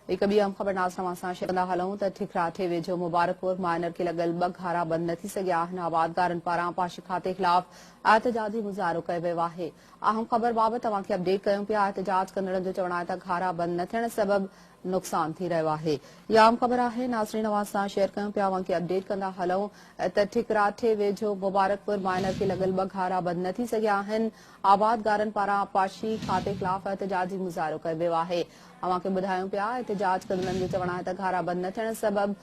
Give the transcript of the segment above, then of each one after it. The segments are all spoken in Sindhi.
هڪ ٻي اهم خبر ناز توهان سان شيئر ڪندا هلون ته ٺڪراٺي ويجهو مبارڪپور مائنر کي لڳل ٻه گهارا بند نه ٿي سگهيا آهن آبادگارن پاران پاش کاتي خلاف احتجاجي مظاهرو ڪيو ويو آهي اهم خبر بابت توهان کي اپڊيٽ ڪيون پيا احتجاج ڪندڙن جو چوڻ آهي ته گهارا بند نه ٿيڻ سبب نقصان ٿي رهيو آهي يا اهم خبر آهي ناظرين اوهان سان شيئر ڪيون پيا اوهان کي اپڊيٽ ڪندا هلون ته ٺڪراٺي ويجهو مبارڪپور مائنر کي لڳل ٻه گهارا بند نه ٿي سگهيا آهن آبادگارن پاران آبپاشي کاتي خلاف احتجاجي مظاهرو ڪيو ويو آهي اوهان کي ٻڌايون پيا احتجاج ڪندڙن جو چوڻ آهي ته گهارا بند نه ٿيڻ سبب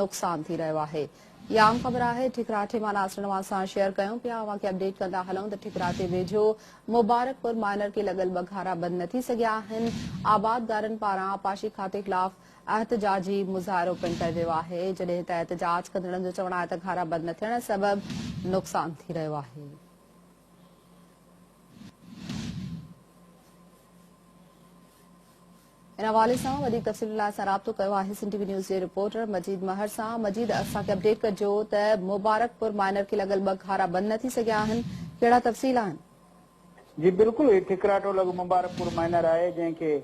نقصان ٿي رهيو آهي اها عام خبر آهي ٺڪراٺي مان ناصرن اوهان سان شيئر ڪيون پيا اوهان کي اپڊيٽ ڪندا هلون ته ٺڪراٺي ويجهو مبارڪپور مائنر کي لڳل ٻه گهارا بند نه ٿي سگهيا آهن آبادگارن پاران آبپاشي کاتي خلاف احتجاجي مظاهرو پڻ ڪيو ويو آهي جڏهن ته احتجاج ڪندڙن جو چوڻ آهي ته گهارا بند نه ٿيڻ سبب نقصان ٿي رهيو آهي ان حوالي سان وڌيڪ تفصيلن لاء اسان رابطو ڪيو آهي سنڌ ٽي وي نيوز جي رپورٽر مجيد مهر سان مجيد اسان کي اپڊيٽ ڪجو ته مبارڪ پور مائنر کي لڳل ٻه گهارا بند نه ٿي سگهيا آهن ڪهڙا تفصيل آهن جي بلڪل هي ٺڪراٺو لڳ مبارڪ پور مائنر آهي جنهن کي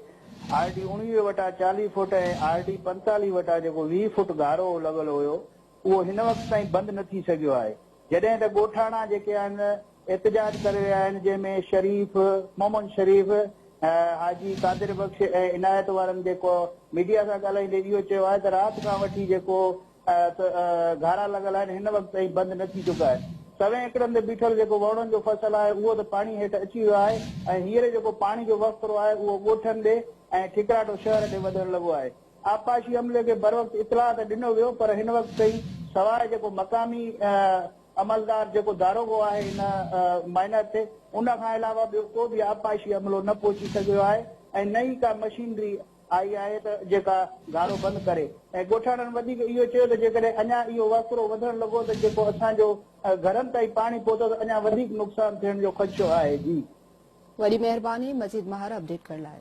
آر ڊي اوڻويهه وٽان چاليهه فوٽ ۽ آر ڊي پنتاليهه وٽان جيڪو ويهه فوٽ گهارو لڳل هيو اهو هن وقت تائين بند نه ٿي سگهيو آهي، جڏهن ته ڳوٺاڻا جيڪي آهن احتجاج ڪري رهيا آهن، جنهن ۾ شريف، محمد شريف، حاجي قادر بخش ۽ عنايت وارن جيڪو ميڊيا سان ڳالهائيندي اهو چيو آهي ته رات کان وٺي جيڪو گهارا لڳل آهن هن وقت تائين بند نه ٿي چڪا آهن، سوين ايڪڙن تي بيٺل جيڪو وئوڻن جو فصل آهي اهو ته پاڻي هيٺ اچي ويو آهي ۽ هينئر جيڪو پاڻي جو وهڪرو آهي اهو ڳوٺن ڏي ۽ ٺڪراٽو شهر ڏي وڌڻ لڳو آهي. آبپاشي عملي کي بروقت اطلاع ته ڏنو ويو پر هن وقت تائين سواء جيڪو مقامي عملدار جيڪو داروغو آهي هن مائنر تي ان کان علاوه ٻيو ڪو به آبپاشي عملو نه پهچي سگهيو آهي ۽ نه ئي ڪا مشينري آئي آهي ته جيڪا گهارو بند ڪري ۽ ڳوٺاڻن وڌيڪ اهو چيو ته جيڪڏهن اڃا اهو وهڪرو وڌڻ لڳو ته جيڪو اسان جو گهرن تائين پاڻي پهتو ته اڃا وڌيڪ نقصان ٿيڻ جو خدشو آهي جي. وڏي مهرباني مزيد ماهر اپڊيٽ ڪرڻ لاء.